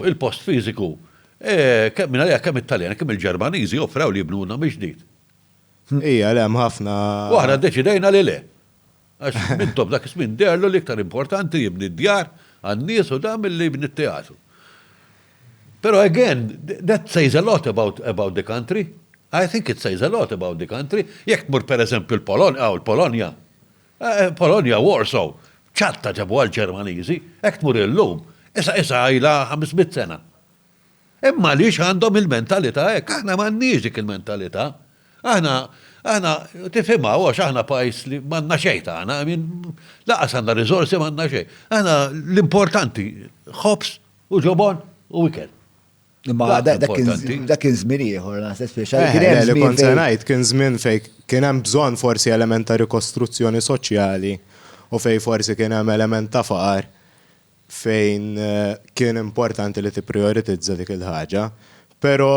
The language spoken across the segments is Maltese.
Fuq il-post fiżiku, kemm mingħalija kemm it-Taljani kemm il-Ġermaniżi offrew li jibnulna mill-ġdid. Ija, le, hemm ħafna. U aħna ddeċidejna li le. Għax Mintoff dak iż-żmien deherlu li iktar importanti jibni d-djar għan-nies u dan milli jibni t-teatru. Però again, that says a lot about about the country. I think it says a lot about the country. Jekk tmur pereżempju l-Polonja, aw il-Polonja, Polonja, Warsaw, ċatta ġabuha l-Ġermaniżi, hekk tmur illum, issa issa ilha ħames mitt sena. Imma għaliex għandhom il-mentalità hekk? Aħna m'għandniex dik il-mentalità. Aħna, aħna, tifhimha għax aħna pajjiż li m'għandna xejn tagħna, I mean, lanqas għandna riżorsi m'għandna xejn. Aħna l-importanti ħobż u ġobon u ikel. Ma dak kien żmien ieħor, naħseb speċa. Eh, kien hemm kont se ngħid kien żmien fejn kien hemm bżonn forsi element ta' rikostruzzjoni soċjali u fejn forsi kien hemm element ta' faqar fejn eh, kien importanti li tipprioritizza dik il-ħaġa. Però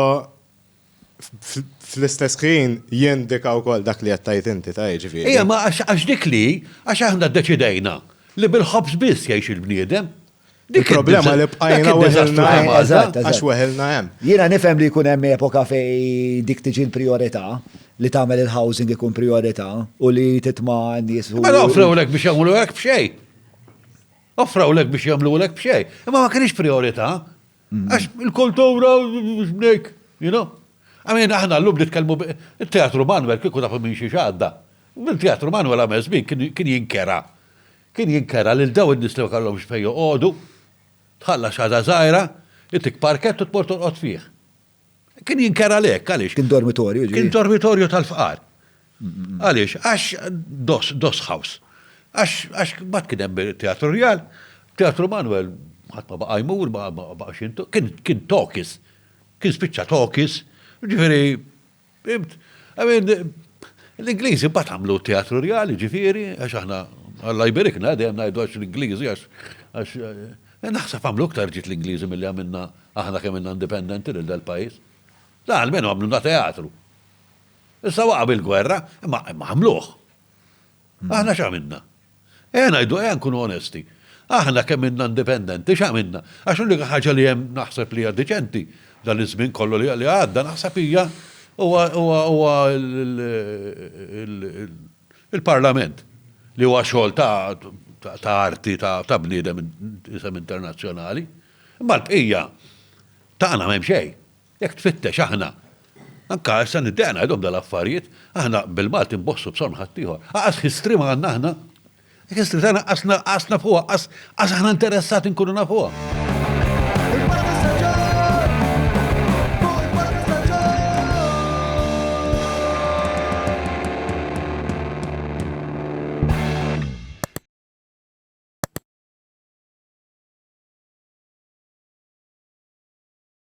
fl-istess ħin jindika wkoll dak li qed tgħid inti, ta' jiġifieri. Ejja, ma għax dik li hi, għax aħna ddeċidejna li bil-ħobż biss jgħix il-bniedem. Dik il-problema li bqajna weħilna hemm. Għax weħilna hemm. Jiena nifhem li jkun hemm epoka fejn dik tiġi l-prijorità, li tagħmel il-housing ikun prijorità u li titma' n-nies. Mela offrewlek biex jagħmlu hekk b'xejn. Offrewlek biex jagħmlu hekk b'xejn. Imma ma kienx prijorità. Għax il-kultura b'nek, you know? Għamin, aħna l-lum nitkellmu il-teatru Manuel kieku tafu minn xi xadda. Il-teatru Manuel għamel żmien kien jinkera. Kien jinkera lil daw in-nies li ma kellhomx fejn joqogħdu, tħalla xada żgħira, itik parkett u tmur torqod fih. Kien jinker għalhekk, għaliex? Kien dormitorju, ġifieri. Kien dormitorju tal-fqar. Għaliex? Għax dos, dos house. Għax, għax mbagħad kien hemm teatru rjal, teatru Manuel ħadd ma baqa' jmur, ma baqa' xintu, kien, kien tokis. Kien spiċċa tokis, ġifieri Fimt? I mean, l-Ingliżi mbagħad għamlu t-teatru rjali, ġifieri, għax aħna Alla jberikna dejjem ngħidu għax l-Ingliżi għax għax eh, naħseb għamlu iktar ġid l-Ingliżi milli għamilna aħna kemm inna indipendenti lil dal-pajjiż. Da almenu għamluna teatru. Issa waqa' bil-gwerra, imma għamluh. Aħna x'għamilna? Ejja ngħidu, ejja nkunu onesti. Aħna kemm inna indipendenti x'għamilna? Għax l-unika ħaġa li hemm naħseb li hija diċenti dan iż-żmien kollu li għadda naħseb hija huwa il-Parlament li huwa xogħol ta' arti ta' bniedem isem internazzjonali. Imma l-bqija tagħna m'hemm xejn. Jekk tfittex aħna, anka issa niddeqna għidhom dal-affarijiet, aħna bil-Malti nbossu b'sonn ħaddieħor. Aqqas history ma għandna aħna. History tagħna qas qas nafuha, qas qas aħna interessati nkunu nafuha.